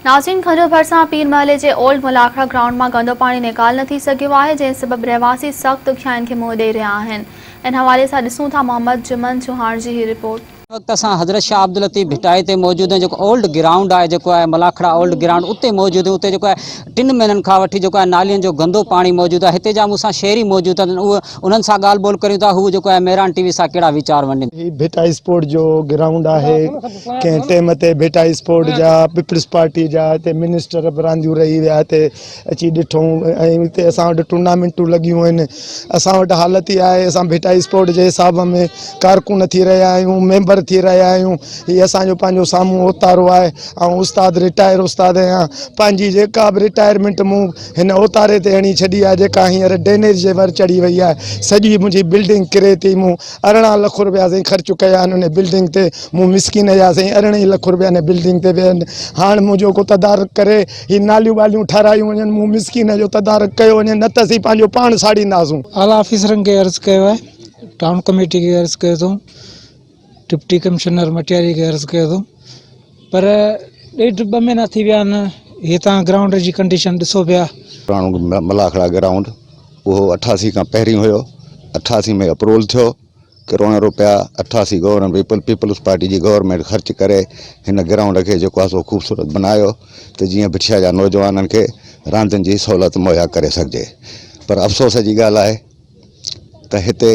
ناظرين کنجو ڀرسان پير محلي جي اولڊ ملاکڙا گرائونڊ مان گندو پاڻي نيڪال نه ٿي سگهيو آهي جنهن سبب رهواسي سخت ڏکيائين کي منهن ڏئي رهيا آهن ان حوالي سان ڏسون ٿا محمد جمن چوهاڻ جي هي رپورٽ. هن وقت اسان حضرت شاهه عبداللطيف ڀٽائي تي موجود آهيون جيڪو اولڊ گرائونڊ آهي جيڪو آهي ملاکڙا اولڊ گرائونڊ اتي موجود آهيون اتي جيڪو آهي ٽن مهينن کان وٺي جيڪو آهي نالين جو گندو پاڻي موجود آهي هتي جا مون سان شهري موجود آهن اهي انهن سان ڳالهه ٻولهه ڪريون ٿا هو جيڪو آهي مهراڻ ٽي وي سان ڪهڙا ويچار ونڊين ٿا. هي ڀٽائي اسپورٽ جو گرائونڊ آهي ڪنهن ٽيم تي ڀٽائي اسپورٽ جا پيپلز پارٽي جا هتي منسٽر به رانديون رهي ويا هتي اچي ڏٺو ۽ هتي اسان وٽ ٽورنامينٽون لڳيون آهن اسان وٽ حالت اها آهي اسان ڀٽائي اسپورٽ جي حساب ۾ ڪارڪن ٿي رهيا آهيون ميمبر ٿي رهيا آهيون هي اسان جو پنهنجو سامهون اوتارو آهي آئون استاد رٽائر استاد آهيان پنهنجي جيڪا به رٽائرمينٽ مون هن اوتاري تي هڻي ڇڏي آهي جيڪا هينئر ڊينيج جي ور چڙهي وئي آهي سڄي منهنجي بلڊنگ ڪري تي مون ارڙهن لک روپيا سائين خرچ ڪيا آهن ان بلڊنگ تي مون مسڪين يا سائين ارڙهن ئي لک روپيا ان بلڊنگ تي ويا آهن هاڻ منهنجو ڪو تدارڪ ڪري هي ناليون ٻاليون ٺهرايون وڃن، مون مسڪين جو تدارڪ ڪيو وڃي، نه ته اسين پنهنجو پاڻ ساڙينداسون. اعليٰ آفيسرن کي عرض ڪيو آهي، ٽائون ڪميٽي کي عرض ڪيو اٿئون، ڊپٽي ڪمشنر مٽياري کي عرض ڪيو اٿئون پر ڏيڍ ٻه مهينا ٿي ويا آهن، هي توهان گرائونڊ جي ڪنڊيشن ڏسو پيا. پراڻو ملاکڙا گرائونڊ اهو اٺاسي کان پهرين هيو، اٺاسي ۾ اپروول ٿيو، ڪروڙين روپيا اٺاسي گورنر پيپل پيپلز پارٽي جي گورنمينٽ خرچ ڪري هن گرائونڊ کي جيڪو آهي سو خوبصورت بنايو ته جيئن بٺيا جا نوجوانن کي راندين جي سهولت مهيا ڪري سگهجي پر افسوس جي ڳالهه آهي ته هتي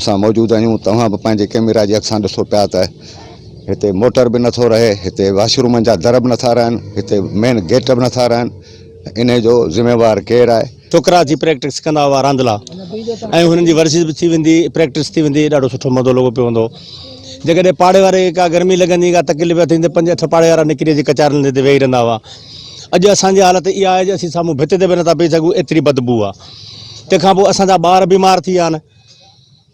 اسان موجود آهيون توهان به پنهنجي ڪيميرا جي اکسان ڏسو پيا ته هتي موٽر به نٿو رهي هتي واشرومن جا در به نٿا رهن هتي مين گيٽ به نٿا رهن ان جو ذميوار ڪير آهي ڇوڪرا اچي پريڪٽس ڪندا هئا راندلا ۽ هنن جي ورزش به ٿي ويندي پريڪٽس ٿي ويندي ڏاڍو سٺو مزو لڳو پيو هوندو جيڪڏهن پاڙي واري ڪا گرمي لڳندي ڪا تڪليف ٿيندي پنج اٺ پاڙي وارا نڪري اچي ڪچارن تي ويهي رهندا هئا اڄ اسان جي حالت اها آهي جو اسين سامهون ڀت تي به نٿا بيهي سگهون ايتري بدبو آهي تنهن کان پوء اسان جا ٻار بيمار ٿي ويا آهن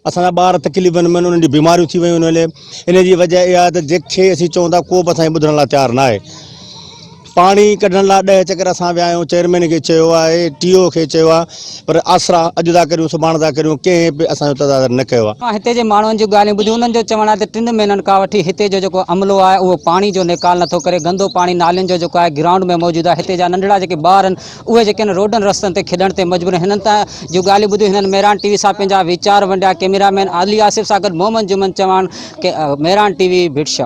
اسان جا ٻار تڪليفن ۾ آهن انهن جون بيماريون ٿي ويون آهن ان جي وجه اها آهي ته جيڪ شيء اسين چئون ٿا ڪو به اسان کي ٻڌڻ لاء تيار ناهي پاڻي ڪڍڻ لاء ڏهه چڪر اسان ويا آهيون چيئرمين کي چيو آهي ٽي او کي چيو آهي پر آسرا اڄ ٿا ڪريون سڀاڻ ٿا ڪريون ڪنهن به اسان جو تدادر نه ڪيو آهي هتي جي ماڻهن جون ڳالهيون ٻڌيون انهن جو چوڻ آهي ته ٽن مهينن کان وٺي هتي جو جيڪو عملو آهي اهو پاڻي جو نيڪال نٿو ڪري گندو پاڻي نالين جو جيڪو آهي گرائونڊ ۾ موجود آهي هتي جا ننڍڙا جيڪي ٻار آهن اهي جيڪي هن روڊن رستن تي کيڏڻ تي مجبور هنن ته جون ڳالهيون ٻڌيون هنن ميران ٽي وي سان پنهنجا ويچار ونڊيا ڪئميرا مين عالي آصف سان گڏ محمد جمن چواڻ ميران ٽي وي ڀٽ شاهه.